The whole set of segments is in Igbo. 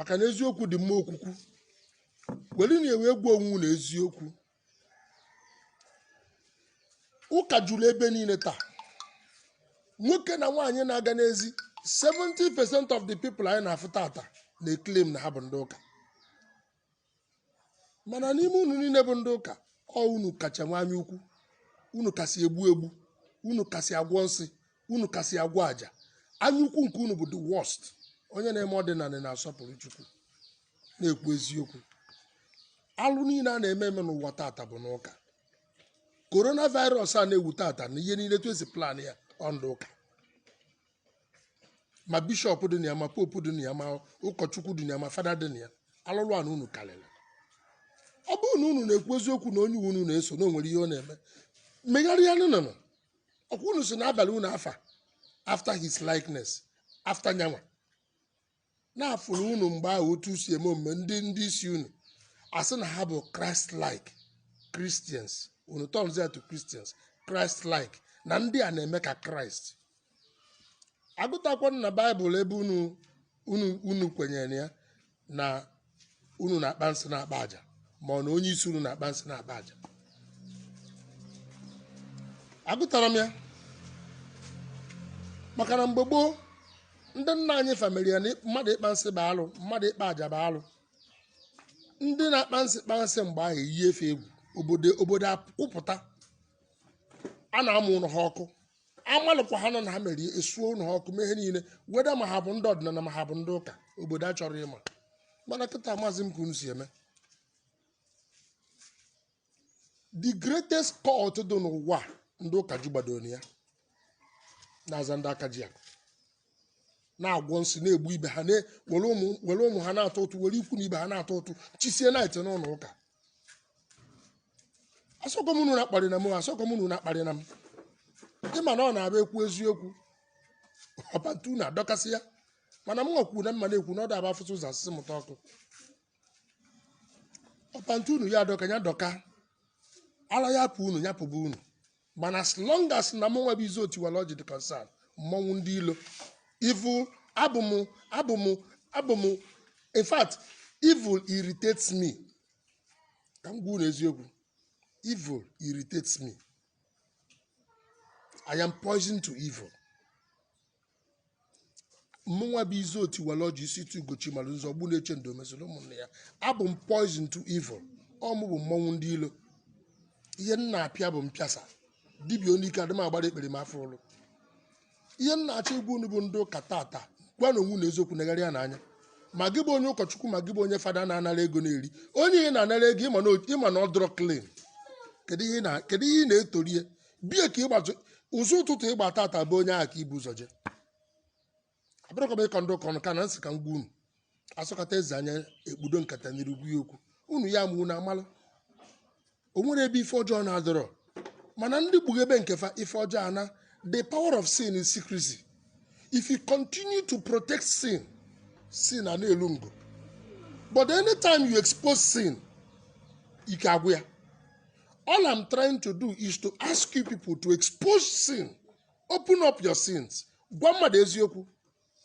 maka na eziokwu dị mma okwukwu werenụ iwe gbuo onwe unu eziokwu ụka juru ebe niile taa nwoke na nwaanyị na-aga n'ezi 70% of the people anyị na-afụ tata na-eclaim na ha bụ ndị ụka mana n'ime unu niile bụ ndị ụka ọ unu kacha nwe anya ukwu unu kasị egbu egbu unu kasị agwọ nsị unu kasị agwọ aja anya ukwu nke unu bụ the worst onye na-eme ọdịnanị na-asọpụrụ chukwu na-ekwu eziokwu alụ niile a na-eme eme n'ụwa tata bụ n'ụka coronavirus a na-ewu tata na ihe niile etu e si plan ya ọ ndị ụka ma bishọp dị na ya ma popu dị na ya ma ụkọchukwu dị na ya ma fada dị na ya alụlụana unu karịrị ọ bụrụ na unu na-ekwu eziokwu na onye unu na-eso na o nwere ihe ọ na-eme megharịa n'unu ọ kwa unu sị na a balụ unu afa after his likeness after nya nwa na a fụrụ unu mgbe ahụ otu e si eme omume ndị ndị isi unu asị na ha bụ christ like christians unu turnzie ya to christians christ like na ndị a na-eme ka kraịst a gụtakwa na baịbụl ebe unu unu unu kwenyere ya na unu na-akpa nsị na-akpa aja ma ọ na onye isi unu na-akpa nsị na-akpa aja a gụtara m ya maka na mgbe gboo ndị nna anyị fa mara ya na mmadụ ịkpa nsị bụ alụ mmadụ ịkpa aja bụ alụ ndị na-akpa nsị kpa nsị mgbe ahụ eyi efe egwu obodo obodo akwụpụta a na-amụ ụlọ ha ọkụ a malụkwa ha na ọ ha mere e suo ụlọ ha ọkụ mee ihe niile weda ma ha bụ ndị ọdịnanị ma ha bụ ndị ụka obodo achọrọ ịma mana kịta amazị m ka unu si eme the greatest cult dị n'ụwa ndị ụka jubadoro na ya na-aza ndị aka ji akụ na-agwọ nsị na-egbu ibe ha na- were ụmụ were ụmụ ha na-atụ ụtụ were ikwu na ibe ha na-atụ ụtụ chisie knight n'ụlọ ụka asịkwa m na unu akparịna m asịkwa m na unu akparịna m ị ma na ọ na-abụ e kwuo eziokwu ọ pant unu adọkasịa mana m nwakwuru na mma na-ekwu na ọ da-abụ a fụsịa ụzọ a sị sị mụta ọkụ ọ pant unu ya-adọka ya dọka ara ya-apụ unu ya pụba unu mana as long as na mụ nwa bụ izu otiwala ọjị dị concern mụ nwa bụ ndị ilo evil abụ m abụ m abụ m in fact evil irritates me ka m gwa unu eziokwu evil irritates me i am poison to evil mụnwa bụ izu otiwala ọjị isi tu ugochi mara ụzọ ọgbụ na-eche ndo mesịrị ụmụnne ya abụ m poison to evil ọ mụ bụ mmọnwụ ndị ilo ihe m na-apịa bụ mpịasa dibịa onye ike adịm agbara ekpere m afọ ụlụ ihe m na-achọ ịgwa unu bụ ndị ụka tata gwanụ onwe unu eziokwu negharịa anya ma gị bụ onye ụkọchukwu ma gị bụ onye fada na-anara ego na-eri onye ị na-anara ego ị ma na o- ị ma na ọ dịrọ clean kedu ihe ị na- kedu ihe ị na-etorie bie ka ịgbazi ụzọ ụtụtụ ịgba tata be onye ahụ ka i bu ụzọ je abụrọkwa m ịkọ ndị ụka ọnụ kama m sị ka m gwa unu asọkata eze anya ekpudo nkata n'iru gwa ya okwu unu ya mụ na amalụ o nwere ebe ife ọjọọ na-adịrọ mana ndị kpughebe nke fa ife ọjọọ ana the power of sin is secrecy if you continue to protect sin sin a na-elu ngo but anytime you expose sin ike agwụ ya All I'm trying to do is to ask you people to expose sin. Open up your sins. Gwa mmadụ eziokwu.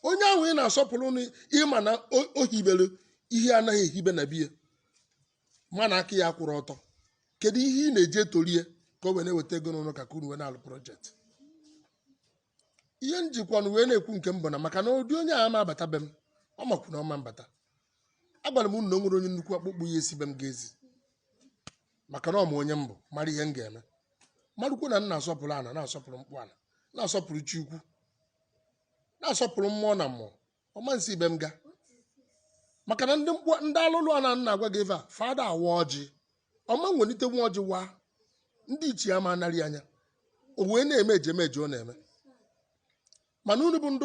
Onye ahụ ị na-asọpụrụ na ị ma na o- o hibere ihe anaghị ehibe na be ya ma na aka ya akwụrọ ọtọ. Kedu ihe ị na-eji etorie ka o wee na-eweta ego n'ụlọ ụka ka unu wee na-alụ project? ihe m jikwanụ wee na-ekwu nke m bụ na maka na ụdị onye a ama abata be m ọ makwu na ọ ma-abata agwara m unu na o nwere onye nnukwu akpụkpọ ya esi be m ga ezi maka na ọ ma onye m bụ mara ihe m ga-eme marụkwu na m na-asọpụrụ ana na-asọpụrụ mkpụ ana na-asọpụrụ chi ukwu na-asọpụrụ mmụọ na mmụọ ọ ma-esi be m ga maka na ndị m kpọ ndị alụlụ ana m na-agwa gị ife a fa ada awa ọjị ọ ma-ewelite nwa ọjị waa ndị ichie ama anarị anya o wee na-eme ejemeje ọ na-eme mana unu bụ ndị